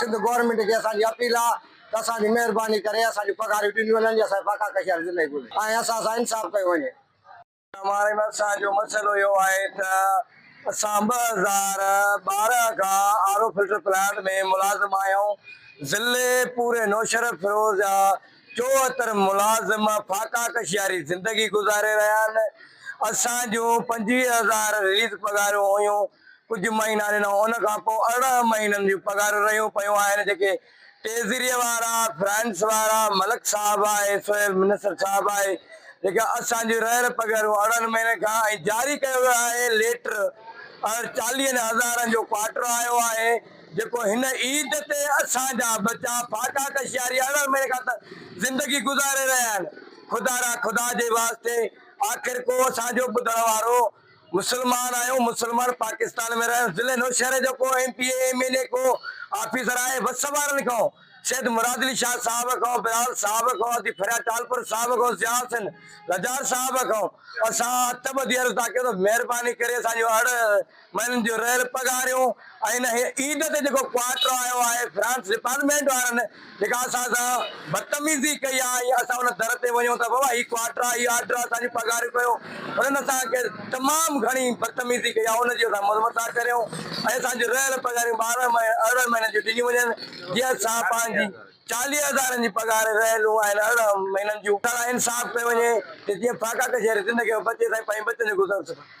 Sindh government کي اسان جي اپيل آ ته اسان جي مهرباني ڪري اسان جون پگهاريون ڏنيون وڃن جي اسان جي فاقا ڪشي واري زندگي گذري ۽ اسان سان انصاف ڪيو وڃي. مارئي ۾ اسان جو مسئلو اهو آهي ته اسان ٻه هزار ٻارهن کان آر او فلٽر پلانٽ ۾ ملازم آهيون ضلعي پوري نوشهره فيروز جا چوهتر ملازم فاقا ڪشي واري زندگي گذاري رهيا آهن اسان جون پنجويهه هزار رليز پگهاريون هيون ڪجهه مهينا ڏنو ان کان پوء ارڙهن مهينن جون پگهارون رهيون پيون آهن جيڪي ٽيزريء وارا، فرانس وارا، ملڪ صاحب آهي، سويل منسٽر صاحب آهي جيڪي اسان جون رهيل پگهرون ارڙهن مهينن کان ۽ جاري ڪيو ويو آهي ليٽر ارڙهن چاليهن هزارن جو ڪوارٽر آيو آهي جيڪو هن عيد تي اسان جا ٻچا ڦاڪا ڪشياري ارڙهن مهينن کان ته زندگي گذاري رهيا آهن خدارا خدا جي واسطي آخر ڪو اسان جو ٻڌڻ وارو مسلمان آهيون مسلمان پاڪستان ۾ رهيون ضلعي نوشهري جو ڪو M P A M N A ڪو آفيسر آهي وس وارن کان سيد مراد علي شاهه صاحب کان بلال صاحب کان حاجي فرياد ٽالپر صاحب کان ضياء حسين لجار صاحب کان اسان هٿ ٻڌي عرض ٿا ڪيون ته مهرباني ڪري اسان جون اڙ مهينن جون رهيل پگهاريون ۽ هن عيد تي جيڪو ڪوارٽر آيو آهي فرانس ڊپارٽمينٽ وارن نگاهه سان سان بدتميزي ڪئي آ ۽ اسان ان در تي وڃون ته بابا هي ڪواٽر آ هي آرڊر آ اسان جون پگهاريون ڪيو انهن اسان کي تمام گهڻي بدتميزي ڪئي آ ان جي اسان مذمت ٿا ڪريون ۽ اسان جون رهيل پگهاريون ٻارهن ۽ ارڙهن مهينن جون ڏنيون وڃن جيئن اسان پنهنجي چاليهه هزارن جي پگهار رهيلون ۽ ارڙهن مهينن جون لاء انصاف ڪيو وڃي ته جيئن فاقا ڪچهري زندگي ۾ بچي سائين پنهنجي ٻچن جو گذر سکن.